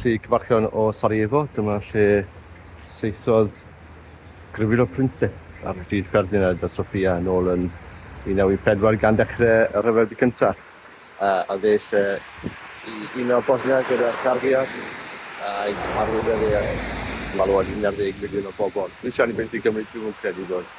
Lle cyfarchion o Sarajevo, dyma lle saethodd Grifilo Prince ar hyd Ferdinand a Sofia yn ôl yn 1914 gan ddechrau y Rhyfel Byd Cyntaf. A ddes e i uno Bosnia gyda Serbia ag arwyddodd e malwod 11 miliwn o bobl. Dwi'n siarad i beth i Gymru, dwi'm yn credu bod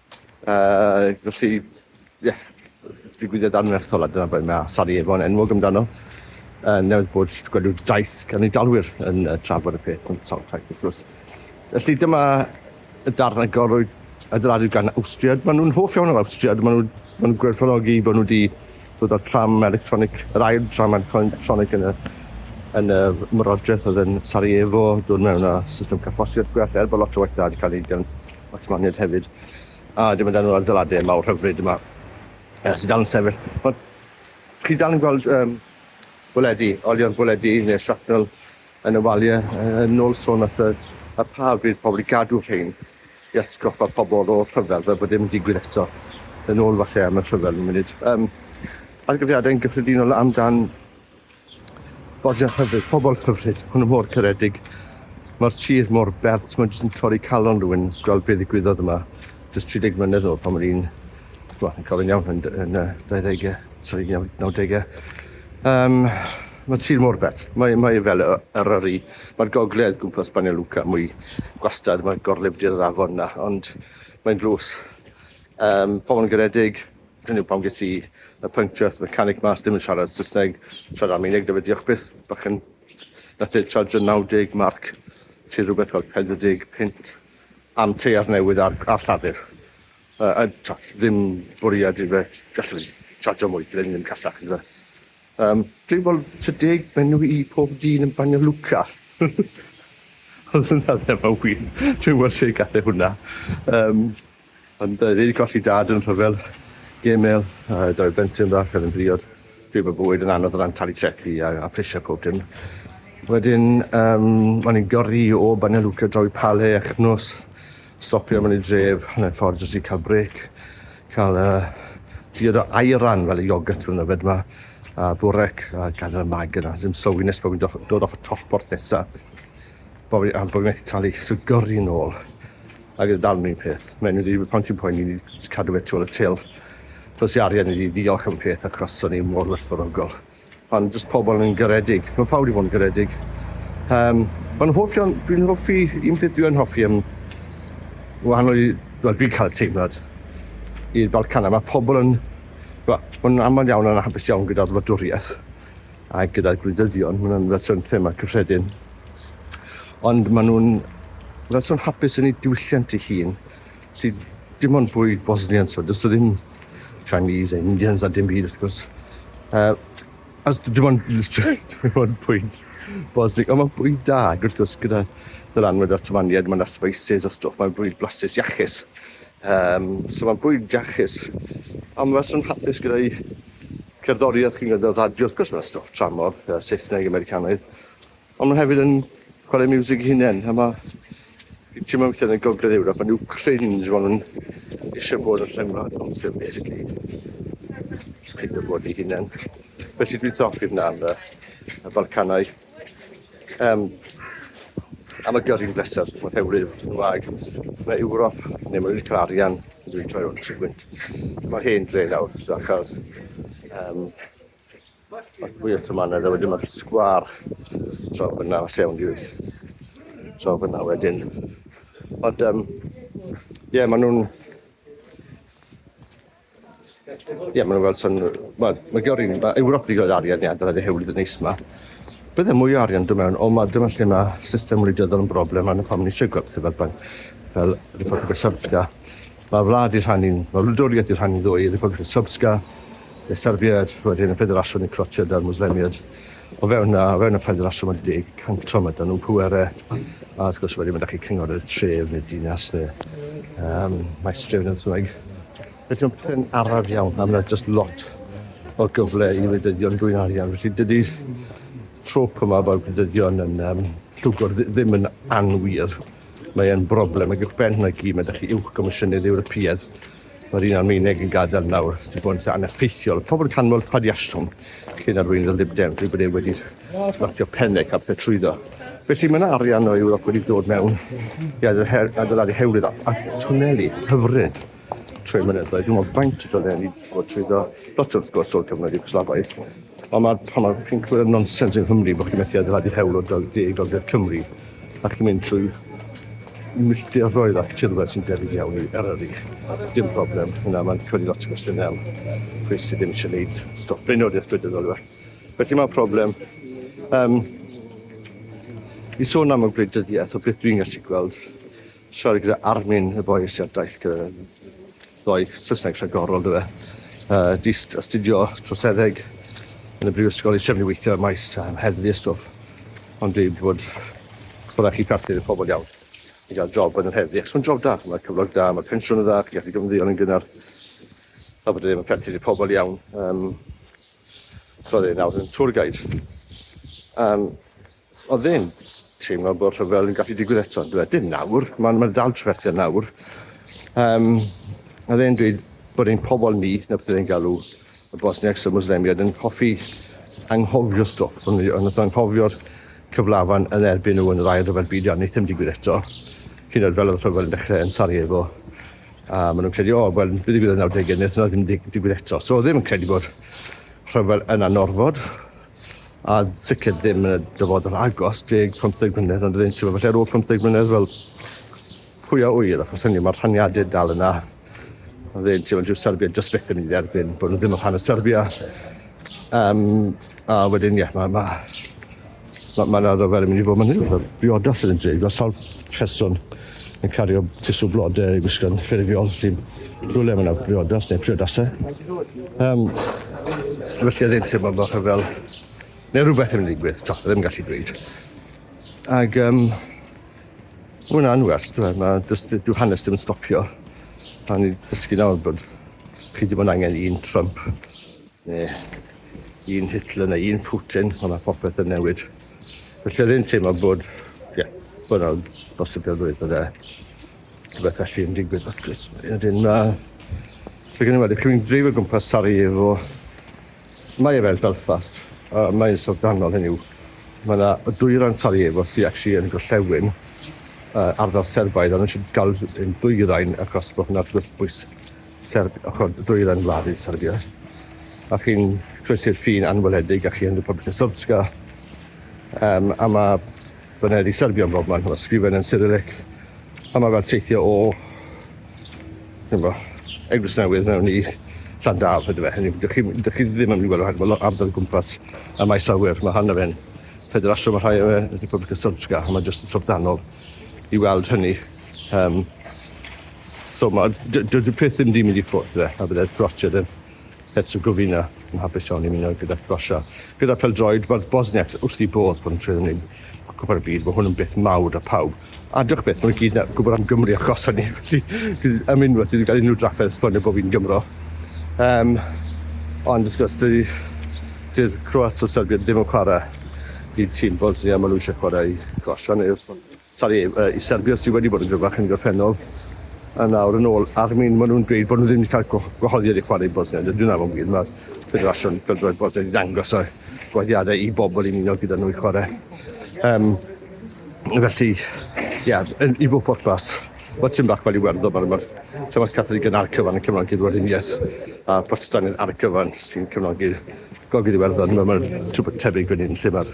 Yy felly ie digwyddiad anferthol a dyna beth mae Sarajevo yn enwog amdano. Yy newydd bod gwedw daith gan ei dalwyr yn yy trafod y peth yn sawl taith wrth gwrs. Felly dyma y darn agorwyd adeiladu gan Awstria. Maen nhw'n hoff iawn o'r Awstria, maen nhw'n ma nhw gwerthfawrogi bod nhw wedi dod â'r tram electronic, yr ail tram electronic yn y yn y myrodraeth oedd yn Sarajevo, dod mewn â system carffosiaeth gwell, er bod lot o waith da wedi cael ei wneud gan Max Maned hefyd, a dim ond enw'r adeiladau mawr hyfryd yma uh, sydd dal yn sefyll. Ond chi dal yn gweld um, bwledi, olion bwledi neu shrapnel yn y waliau, uh, yn ôl sôn at y, y pa fydd pobl i gadw rhain i atgoffa pobl o'r rhyfel, fel bod dim yn digwydd eto, yn ôl falle am y rhyfel yn munud. Um, argyfriadau'n gyffredinol amdan Bodiau hyfryd, pobl hyfryd, hwnnw mor caredig. Mae'r tir mor bert, mae'n jyst yn torri calon rhywun gweld beth ddigwyddodd yma. Just 30 mlynedd o'r pan o'n i'n, wel, yn cofyn iawn yn, yn uh, 20au, sorry, 90au. Um, mae tir mor bert. Mae, mae fel yr yr Mae'r gogledd gwmpas Banja Luka mwy gwastad, mae gorlifdir yr afon na, ond mae'n dlws. Um, pobl yn garedig, Hynny yw, pam ges i y puncture at y mechanic mas, dim yn siarad Saesneg, siarad Almaeneg, dyfa diolch byth, bach yn... Nath e charge 90 marc, sydd rhywbeth fel 40 pint am teiar newydd ar, ar llafur. Uh, a tra, ddim bwriad i fe, gallu fi charge mwy, byddai'n ddim callach, ynddo fe. Um, dwi'n fel 30 menw i pob dyn yn Banja Luka. Oedd hwnna ddim yn wir. Dwi'n weld lle gath e hwnna. Um, Ond yy fi 'di colli dad yn rhyfel gemel a dau blentyn fach oedd yn briod. Dwi bod bywyd yn anodd o ran talu trethi a a prisie pob dim. Wedyn yym o'n i'n gyrru o Banja Luka draw i Pale a Chnws, stopio mewn i dref hanner ffordd jyst i ca'l brêc, ca'l yy diod o ayran fel y iogwrt ma'n yfed 'ma, a bwrec a gadel y mag yna, ddim sylwi nes bo' fi'n doff- dod off y tollborth nesa. Bo fi am bo fi methu talu so gyrru nôl ag yn dal mewn peth. Mae'n wedi bod pont i'n poeni ni jyst cadw fe tu ôl y til. Dos i arian i fi ddiolch am peth achos o'n i mor werthfawrogol. Ond jyst pobl yn garedig. Mae pawb wedi bod yn garedig. Um, mae'n hoff iawn, dwi'n hoffi, un peth dwi'n hoffi am wahanol i, wel dwi'n cael teimlad i'r Balcanau, mae pobl yn, wel, mae'n aml iawn yn hapus iawn gyda'r wladwriaeth. A gyda'r gwleidyddion, maen nhw'n fersiwn thema cyffredin. Ond maen nhw'n fersiwn hapus yn ei diwylliant ei hun, sydd dim ond fwy Bosnian, so does ddim Chinese, Indians a dim byd wrth gwrs. Uh, as dim ond, dim ond pwynt Bosnig, ond mae'n bwyd da, wrth gwrs, gyda dylanwad o'r tymaniad, mae yna spices a stwff, mae'n bwyd blasus iachus. Um, so mae'n bwyd iachus, ond mae'n swn hapus gyda'i Cerddoriaeth chi'n gwrando ar radio wrth gwrs ma' stwff tramor yy Saesneg Americanaidd on' ma' hefyd yn chware miwsig 'i hunen a ma' fi'n timlo weithie yn y Gogledd Ewrop ma' n'w cringe ma' nw'n isie bod yn rhyngwlad bosib basically. Pigo fo 'i hunen. Felly dwi'n hoffi hwnna am yy y Balcanau. Um, am y gyrru'n bleser, mae'n rhewlydd yn Gymraeg. Mae Ewrop, neu mae'n rhaid cael arian, dwi'n troi o'n trigwynt. Mae hen dre nawr, da chael um, at mwy o tymanedd, a wedyn mae'r sgwar draw fyna, os iawn i wyth, draw fyna wedyn. Ond, um, ie, yeah, maen nhw'n... Ie, yeah, mae'n gweld sy'n... Wel, mae gyda rhywun... Mae Ewrop wedi gweld arian ni adeiladu hewlydd yn neis yma. Bydde mwy o arian dod mewn, ond mae dyma lle mae system wleidyddol yn broblem a'n pam ni eisiau gweld pethau fel pan, fel Republika Srpska. Mae wlad i rhannu'n... Mae wladwriaeth i rhannu'n ddwy, Republika Srpska, y Serbiaid, wedyn y Ffederasiwn i Croatiaid a'r Mwslemiaid. O fewn o fewn y ffendir allan ma'n deg cantro ma' dan nhw'n pwere a wrth gwrs wedyn ma' da chi cynghorydd tref neu dinas neu um, maestref neu beth Felly mae'n pethau'n araf iawn a mae'n just lot o gyfle i wleidyddion dwy'n arian. Felly dydy trwp yma bod gwleidyddion yn um, llwgwr ddim yn anwir. Mae'n broblem ag uwch ben hynna gyd mae da chi uwch gomisiynydd Ewropeaidd Mae'r un Almaeneg yn gadael nawr sydd bod yn eitha aneffeithiol. Pobl canmol Padiasson cyn arweinydd y Lib Dems yw bod e wedi ratio pennau cael pethau trwyddo. Felly mae yna arian o Ewrop wedi dod mewn i adeiladu hewlydd a twneli hyfryd trwy mynyddoedd. Dwi'n meddwl faint o dwneli wedi bod trwyddo. Lot wrth gwrs o'r cyfnod Iwgoslafaidd. Ond mae, pan mae chi'n clywed y nonsens yng Nghymru bod chi'n methu adeiladu hewl o deg i gogledd Cymru, a chi'n mynd trwy milltiroedd ac tirwedd sy'n debyg iawn i Eryri. Dim problem, yna mae'n codi lot o gwestiynau am pwy sydd ddim eisiau gwneud stwff blaenoriaeth gwleidyddol yw e. Felly mae'n problem. Um, I sôn am y gwleidyddiaeth, o beth dwi'n gallu gweld, siarad gyda Armin y boi sydd ar daith gyda Ddoe, Saesneg rhagorol dyw e. Yy dyst astudio troseddeg yn y brifysgol i trefnu weithio ym maes yym heddlu a stwff. Ond dwi wedi bod bo' raid chi partner efo pobl iawn i ga'l job yn yr heddlu achos ma'n job da, ma' cyflog da, ma' pensiwn yn dda, chi'n gallu gymddeol yn gynnar. Fel bod e ddim yn perthyn i'r pobl iawn. Yym so ie nawr yn tour guide. Yym. Oedd e'n teimlo bod rhyfel yn gallu digwydd eto, dwi Dim nawr, mae'n ma dal trafferthion nawr. Um, oedd e'n dweud bod ein pobol ni, na beth oedd e'n galw, y Bosniacs a Muslemiad, yn hoffi anghofio stwff. Ond oedd anghofio'r cyflafan yn erbyn nhw yn yr ail rhyfel byd iawn, wneud ddim digwydd eto. Hyn oed fel oedd y rhyfel yn dechrau yn Sarajevo. A maen nhw'n credu, o, oh, wel, bydd digwydd yn 90au, wnaeth yna ddim digwydd eto. So ddim yn credu bod rhyfel yn anorfod, a sicr ddim yn y dyfodol agos, deg, pymtheg mlynedd, ond ydyn ti'n meddwl, falle ar ôl pymtheg mlynedd, wel, pwy a ŵyr, achos hynny, mae'r rhaniadau dal yna. Ond ydyn ti'n meddwl, dyw Serbia just byth yn mynd i dderbyn bod nhw ddim yn rhan o Serbia. Um, a wedyn, ie, yeah, mae ma, ma, ma yna rhyfel yn mynd i fod mynd i fod yn briodas yn y dre, fel sawl person yn cario tisw blode i gwisgo'n ffurfiol sy'n rhywle mae'n awgriodas neu priodasau. Um, felly oedd e'n teimlo bod rhyfel neu rhywbeth yn mynd i digwydd, to, ddim yn gallu dweud. Ac um, mae'n anwers, dwi, mae dysgu, dwi hanes ddim yn stopio. A ni dysgu nawr bod chi ddim yn angen un Trump Neu un Hitler neu un Putin, ond mae popeth yn newid. Felly oedd e'n teimlo bod, ie, yeah, bod yna bosibilrwydd bod e rhywbeth felly yn digwydd wrth gwrs. Wedyn mae... Fe gen i wedi cymryd dreif o gwmpas Sarajevo. Mae e fel Belfast, a mae'n syldanol hynny yw. Mae yna y dwyrain Sarajevo sy'n actually yn gorllewin uh, ardal Serbaidd, ond eisiau gael yn dwyrain achos bod hwnna'n bwysig Serb- ochr dwyrain wlad Serbia. A chi'n croesi'r ffin anweledig a chi yn Republika Srpska. Um, a mae baned i Serbia yn bob man, mae sgrifen yn Cyrillic. A mae fel teithio o Dyma, Eglwys Newydd mewn i Llandaf ydy fe. Hynny, dych chi, dych chi ddim yn mynd i weld rhagor o ardal gwmpas y maes awyr. Mae hanna fe'n ffederasiwn, mae rhai o fe yn Republika Srpska, a mae jyst yn sorfdanol i weld hynny. Um, So ma, dydy peth ddim di mynd i ffwrdd de, a byddai'r prosiad yn Herzegovina yn hapus iawn i muno gyda Crosia. Gyda peldroed, mae'r Bosniacs wrth i bodd bod yn trwy'n wneud cwpan y byd, mae hwn yn beth mawr a pawb. A dych beth, mae'n gyd na gwybod am Gymru a Crosia ni, felly am unwaith wedi cael unrhyw drafferth esbonio bod fi'n Gymro. Um, ond wrth gwrs, dydy, dydy'r Croats o Serbia ddim yn chwarae i tîm Bosnia, maen nhw eisiau chwarae i Crosia neu Sori i Serbia sydd wedi bod yn gryfach yn y gorffennol a nawr yn ôl Armin maen nhw'n dweud bod nhw ddim wedi cael gwahoddiad i chwarae i Bosnia. Dydw i'n annog wir, mae'r Ffederasiwn Pêl-droed Bosnia wedi dangos y gwahoddiadau i bobl i'n unol gyda nhw i chwarae. Um, felly, ia, yeah, i fod portbas, mae tîm bach fel Iwerddon, mae'r ma Llyfr Catholig yn ar cyfan yn cefnogi'r Werdiniaeth a Protestanydd ar y cyfan sy'n cefnogi'r Gogledd Iwerddon. Mae'n ma tebyg fan hyn lle mae'r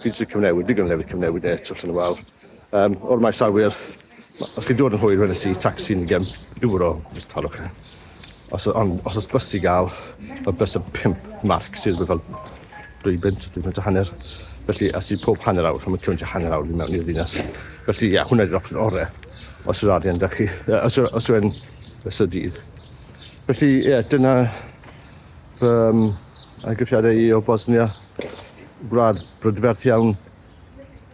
Fi eisiau cyfnewid, digon o lefydd cyfnewid e, twll yn y wal. Um, o'r maes awyr, os chi'n dod yn hwyr, wedyn si taxi yn gem euro, jyst talwch e. Os, on, os oes bus i gael, mae bus yn 5 marc sydd wedi fel 2 bint, 2 bint a hanner. Felly, a sydd pob hanner awr, mae'n cyfnod hanner awr i mewn i'r ddinas. Felly, ia, hwnna ydy'r opsiwn orau, os yw'r arian da chi, os, os yw'n ystod dydd. Felly, ie, yeah, dyna Fy amgylchiadau i o Bosnia, gwlad brydferth iawn,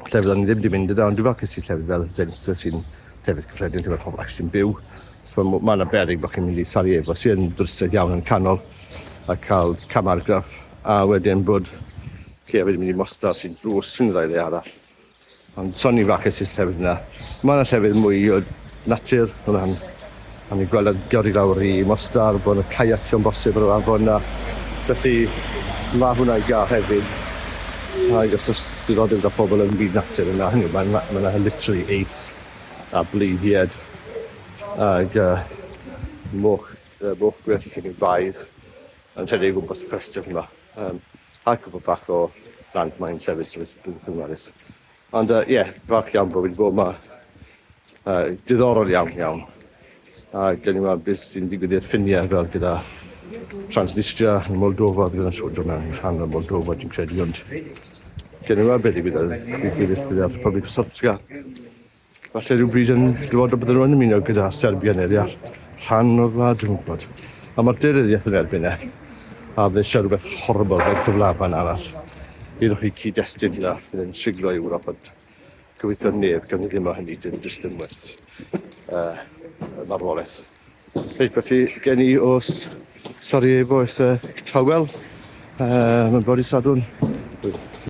lle fyddan ni ddim wedi mynd yna, ond dwi'n falcus i llefydd fel Zenica sy'n llefydd cyffredin lle mae pobl actually'n byw. So, mae yna berig bod chi'n mynd i Sarajevo sy'n dwristiaeth iawn yn canol a cael camargraff a wedyn bod chi hefyd yn mynd i Mostar sy'n drws yn y ddau le arall. Ond son i'n fraches i'r llefydd yna. Mae yna llefydd mwy o natur yn rhan. A ni'n gweld yn gyrru lawr i Mostar, bod yna caiacio'n bosib ar yr afon yna. Felly mae hwnna i gael hefyd. A i os oes diddordeb gyda pobl yn byd natur yna, hynny yw, mae yna, mae yna literally eith a bleidied ag uh, moch, uh, moch gwyllt yn ei baedd. Yn rhedeg o gwmpas y festival 'ma yym a cwpwl bach o blant 'ma hefyd so beth dwi'n chwilwares. Ond yy ie, falch iawn bo' fi 'di bod 'ma. Yy diddorol iawn iawn. A gawn ni weld beth sy'n digwydd i'r ffinie fel gyda Transnistria a Moldova bydd yn siŵr do' mewn i rhan o Moldova dwi'n credu ond gawn ni weld be' digwydd yy digwydd i'r Rhepublic of Srpska. Falle rhywbryd yn dyfodol bydden nhw'n ymuno gyda Serbia neu ddeall rhan o'r wlad, dwi'n gwybod. A mae'r derydiaeth yn erbyn e. A fe siarad rhywbeth horrible fel cyflafan arall. Iddo chi cyd-destun hynna, fydd yn siglo Ewrop, ond gobeithio neb gan ddim o hynny, dim jyst yn werth uh, marwolaeth. Reit, felly, gen i o Sarajevo i'r uh, tawel, uh, mae'n bod i Sadwn,